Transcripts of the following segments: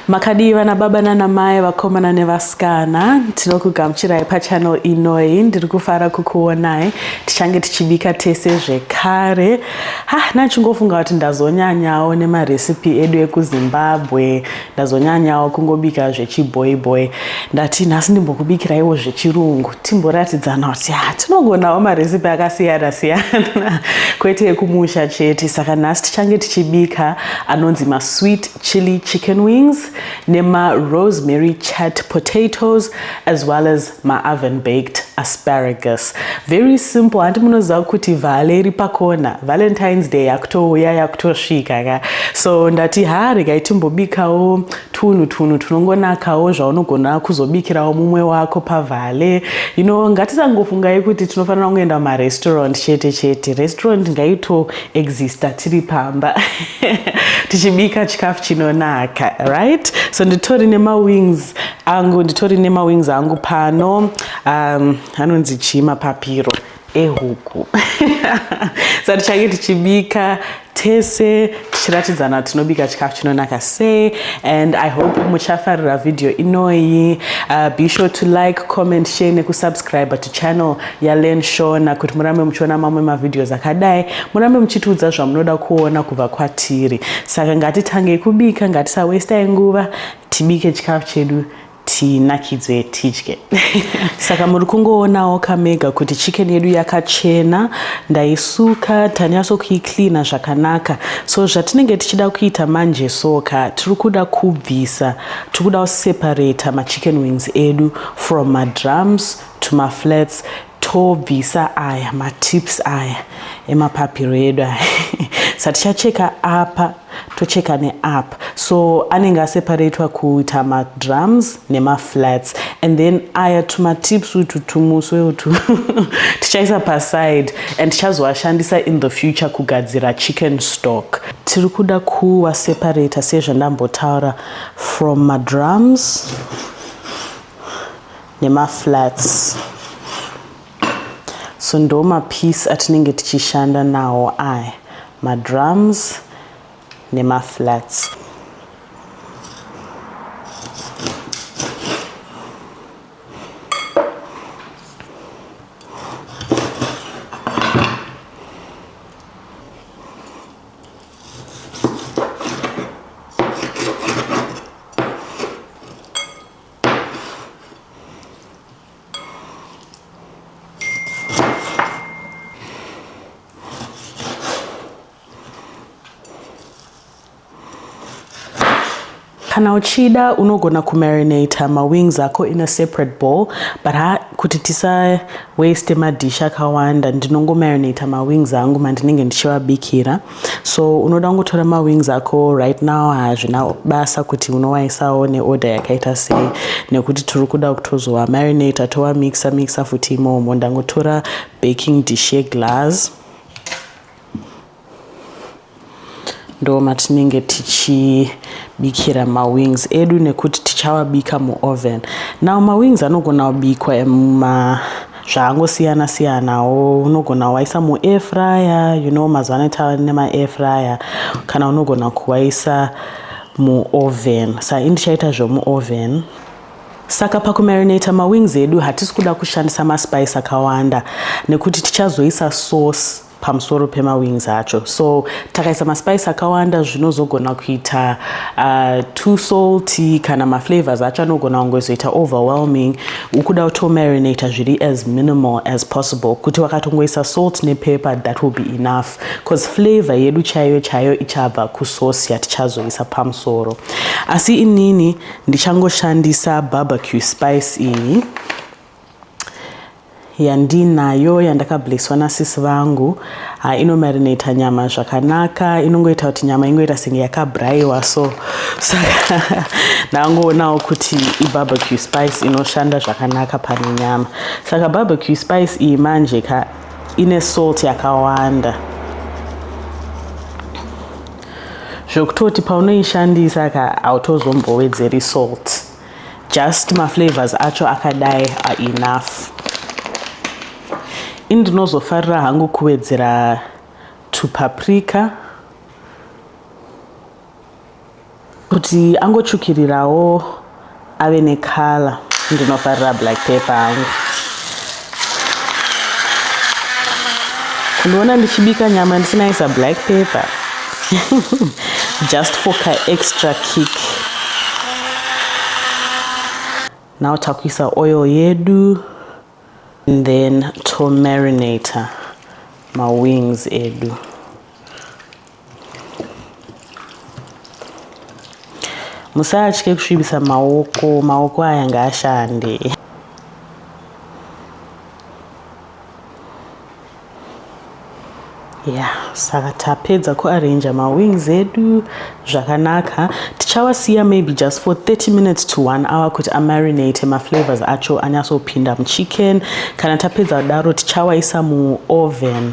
makadii vana baba nana mai vakomana nevasikana tinokugamuchirai pachanel inoi ndiri kufara kukuonai tichange tichibika tese zvekare ha nachingofunga kuti ndazonyanyawo nemarecipe edu ekuzimbabwe ndazonyanyawo kungobika zvechiboy boy ndati nhasi ndimbokubikiraiwo zvechirungu timboratidzana kuti ha tinogonawo maresipi akasiyana siyana kwete yekumusha chete saka nhasi tichange tichibika anonzi masweet chili chicken wings nemarosemary chat potatoes as well as ma oven baked asparagus very simple hanti munoziva kuti vhale iri pakona valentines day yakutouya yakutosvika ka so ndati ha regai timbobikawo tunhu tunhu tunongonakawo zvaunogona kuzobikirawo mumwe wako pavhale you know ngatisangofungai kuti tinofanira kungoenda marestaurant chete chete restaurant ngaito exista tiri pamba tichibika chikafu chinonaka right so nditori nemawings angu nditori nemawings angu pano um, anonzi chii mapapiro ehuku sa tichange tichibika tese tichiratidzana tinobika chikafu chinonaka sei and i hope muchafarira vhidhiyo inoyi uh, be sure to like comment share nekusubscribe to channel yalen shona kuti murambe muchiona mamwe mavhidhios akadai murambe muchitiudza zvamunoda kuona kubva kwatiri saka ngatitangei kubika ngatisawestai nguva tibike chikafu chedu tinakidzwe tidye saka muri kungoonawo kamega kuti chicken yedu yakachena ndaisuka tanyatso kuicleana zvakanaka so zvatinenge tichida kuita manje soka tiri kuda kubvisa tiri kuda kuseparata machicken wings edu from madrums to maflats tobvisa aya matips aya emapapiro edu aya sa tichacheka apa tocheka neapa so anenge aseparatwa kuita madrums nemaflats and then aya tumatips utu tumuswe utu tichaisa paside and tichazoashandisa in the future kugadzira chicken stock tiri kuda kuaseparater sezvandambotaura from madrums nemaflats so ndo mapiece atinenge tichishanda nawo aya madrums nemaflats kana uchida unogona kumarinata mawings ako in a separate bowl but ha kuti tisa waste madish akawanda ndinongomarinata mawings angu mandinenge ndichivabikira so unoda kungotora mawings ako right now hazvina basa kuti unowaisawo neorder yakaita sei nekuti tiri kuda kutozowa marinate towa mixa mixa futi imomo ndangotora baking dish yeglass ndo matinenge tichibikira mawings edu nekuti tichawabika muoven now mawings anogona kubikwa muma zvakangosiyana siyanawo unogona waisa muair fryer you know mazuva ano tava nemaair fryer kana unogona kuwaisa muoven sa ini ndichaita zvomuoven saka pakumarinata mawings edu hatisi kuda kushandisa maspice akawanda nekuti tichazoisa sauce pamusoro pemawings acho so takaisa maspice akawanda zvinozogona kuita uh, too salty kana maflavors acho anogona kungozoita overwhelming ukuda kutomarinata zviri as minimal as possible kuti wakatongoisa salt nepeper that will be enough bcause flavor yedu chaiyo chaiyo ichabva kusosi yatichazoisa pamusoro asi inini ndichangoshandisa barbecue spice iyi yandinayo yandakablesswa nasisi vangu ha inomarinata nyama zvakanaka inongoita kuti nyama ingoita senge yakabraiwa so saka ndangoonawo kuti ibarbecue spice inoshanda zvakanaka pane nyama saka barbecue spice iyi manje ka ine salt yakawanda zvokutoti paunoishandisa ka hautozombowedzeri salt just maflavors acho akadai are enough ini ndinozofarira hangu kuwedzera tupaprika kuti angotsvukirirawo ave nekala ndinofarira black pepper hangu kundiona ndichibika nyama ndisinaisa black paper just for ka extra kick now takuisa oil yedu and then to marinator mawings edu musatye kusvibisa maoko maoko aya ngaashande ya yeah, saka tapedza kuarranja mawings edu zvakanaka tichawasiya maybe just for 30 minutes to one hour kuti amarinate maflavors acho anyatsopinda muchicken kana tapedza kudaro tichawaisa muoven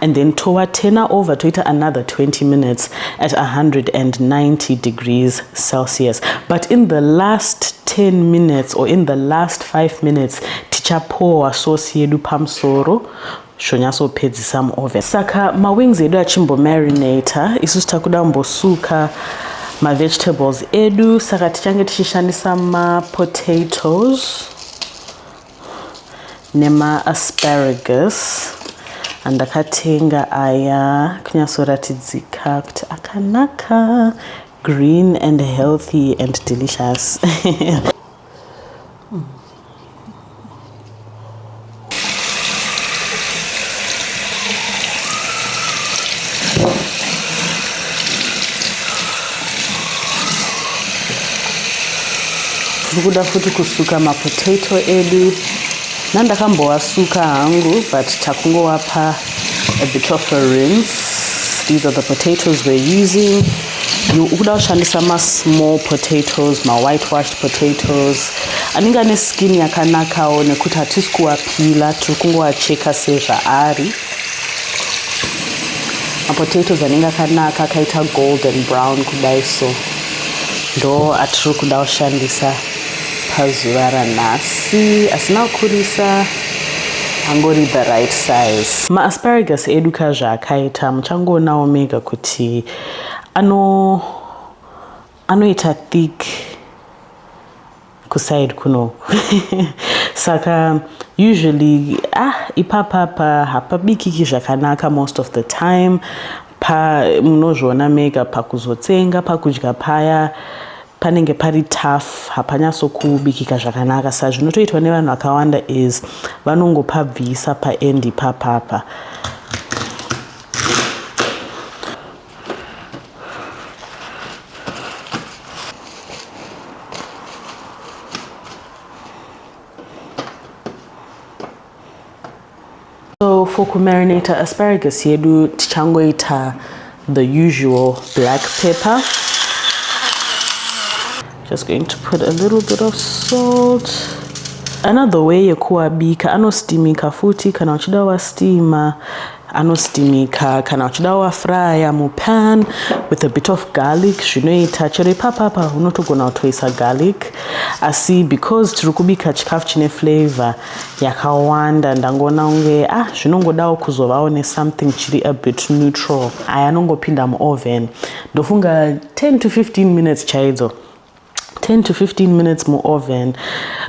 and then towa turner over toita another 20 minutes at 190 degrees celsius but in the last 10 minutes or in the last 5 minutes tichapowa sauce yedu pamusoro zvonyatsopedzisa muoven saka mawings edu achimbomarinator isusu takuda kumbosuka mavegetables edu saka tichange tichishandisa mapotatoes nemaasparagus andakatenga aya kunyatsoratidzika kuti akanaka green and healthy and delicious tiri kuda futi kusuka mapotato edu nandakambowasuka hangu but takungowapa a bit of a rinse these are the potatoes we're using ukuda kushandisa masmall potatoes mawhite washed potatoes anenge ane skin yakanakawo nekuti hatisi kuwapila tiri kungowacheka sezvaari mapotatoes anenge akanaka akaita golden brown kudai so ndo atiri kuda kushandisa pazuva ranhasi asina kukurisa angori the right size maasparagus edu ka zvaakaita muchangoonawo mega kuti ano anoita thick kuside kunoku saka usually ah ipapapa hapabikiki zvakanaka most of the time pa munozviona mega pakuzotsenga pakudya paya panenge pari tough hapanyasokubikika zvakanaka sa zvinotoitwa nevanhu vakawanda is vanongopabvisa paendi papapa So for kumarinata asparagus yedu tichangoita the usual black pepper. Just going to put a little bit of salt. Another way yekuabika anostimika futi kana uchida wastima anostimika kana uchida wafraya mupan with a bit of garlic zvinoita chero ipapapa unotogona kutoisa garlic asi because tiri kubika chikafu chine flavor yakawanda ndangoona kunge ah zvinongodawo kuzovawo nesomething chiri a bit neutral aya anongopinda muoven ndofunga 10 to 15 minutes chaidzo 10 to 15 minutes mu oven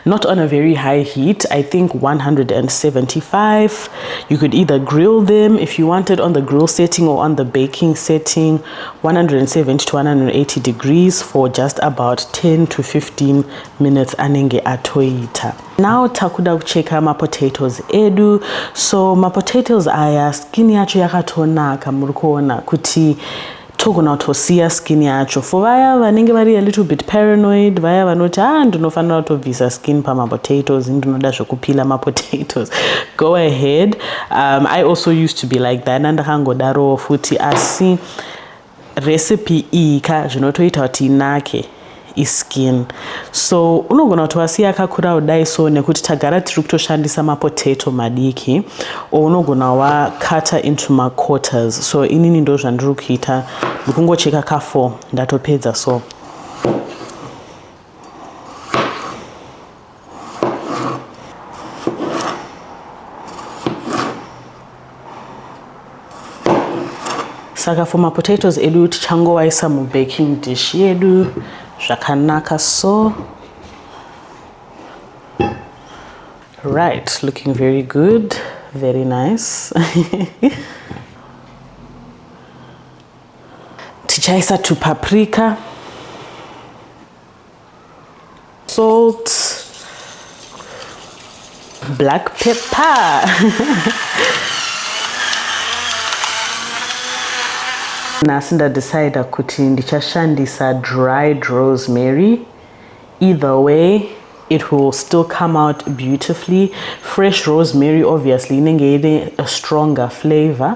not on a very high heat i think 175 you could either grill them if you wanted on the grill setting or on the baking setting 170 to 180 degrees for just about 10 to 15 minutes anenge atoita now takuda kucheka mapotatoes edu so mapotatoes aya skin yacho yakatonaka muri kuona kuti togona kutosiya skin yacho for vaya vanenge vari a little bit paranoid vaya vanoti ah ndinofanira kutobvisa skin pamapotatoes ndinoda zvekupila mapotatoes go ahead um, i also used to be like that andakangodarowo futi asi recipe iyi ka zvinotoita kuti inake iskin so unogona kuti wasiya kakura kudai so nekuti tagara tiri kutoshandisa mapotato madiki or unogona wakata into maquarters so inini ndo zvandiri kuita ndikungocheka kafour ndatopedza so saka for mapotatoes edu tichangowaisa mubaking dish yedu zvakanaka so right looking very good very nice tichaisa tupaprika salt black pepper nhasi ndadecida kuti ndichashandisa dried rosemary either way it will still come out beautifully fresh rosemary obviously inenge ine a stronger flavor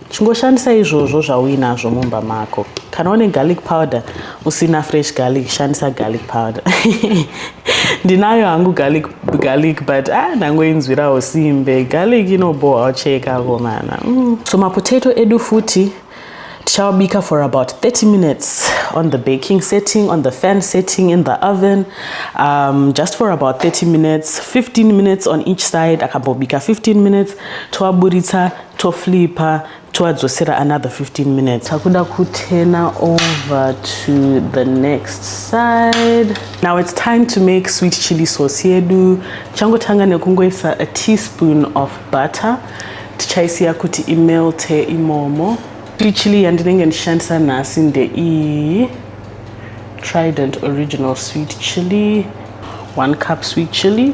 Chingoshandisa izvozvo zvauinazvo mumba mako. Kana une garlic powder usina fresh garlic, shandisa garlic powder. Ndinayo hangu garlic, garlic but ah, ndangoinzwirawo simbe. Garlic inoboha ucheka komana. Mm. So mapotato edu futi tichawabika for about 30 minutes on the baking setting, on the fan setting, in the oven, um, just for about 30 minutes, 15 minutes on each side, akambobika 15 minutes, toaburitsa toflipa toadzosera another 15 minutes takuda kutena over to the next side now it's time to make sweet chili sauce yedu changotanga nekungoisa a teaspoon of butter tichaisiya kuti imelte imomo sweet chili yandinenge ndishandisa nhasi ndeiyi trident original sweet chili one cup sweet chili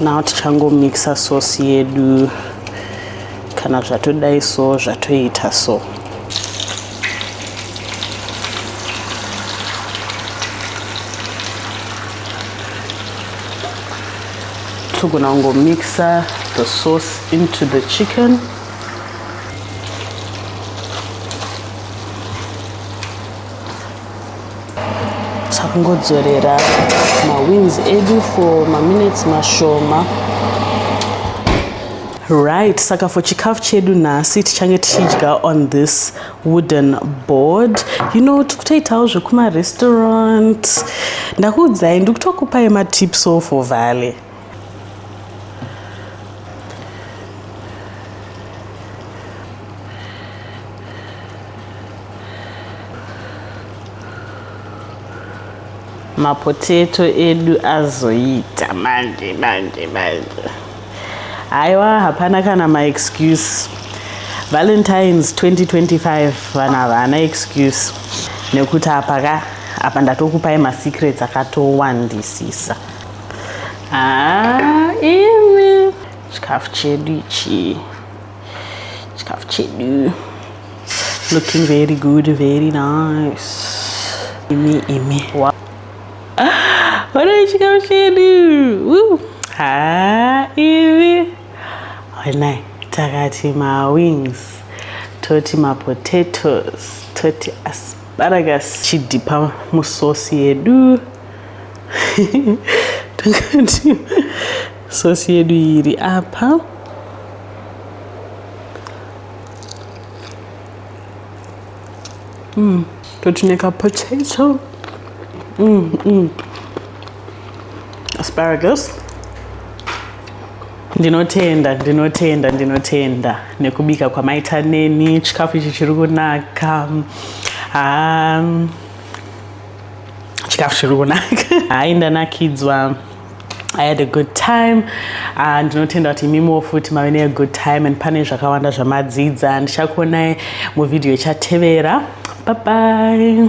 now tichangomixa sauce yedu kana zvatodai so zvatoita so togona kungomixa the sauce into the chicken takungodzorera mawings edu for maminutes mashoma right saka for chikafu chedu nhasi tichange tichidya on this wooden board you know tikutoitawo zvekumarestaurant ndakuudzai ndikutokupai matips o for valley mapoteto edu azoita manje manje manje haiwa hapana kana maexcuse valentines 2025 vanhu havana excuse nekuti apa ka apa ndatokupai masecrets akatowandisisa Haa imi chikafu chedu ichi chikafu chedu looking very good very nice imi imi wow. Olha isso, Gauchini! Uh! Ah, Eve! Olha, tagati ma wings, toti ma potatoes, toti asparagus, chidipa musosi yedu. takati sosi yedu iri apa mm, totineka potato mm, mm. asparagus ndinotenda ndinotenda ndinotenda nekubika kwamaita neni chikafu ichi chiri kunaka haa um, chikafu chiri kunaka hayi ndanakidzwa I had a good time ah, ndinotenda kuti imimiwo futi mave ne good time and pane zvakawanda zvamadzidza ndichakuonai muvhidhiyo ichatevera bye bye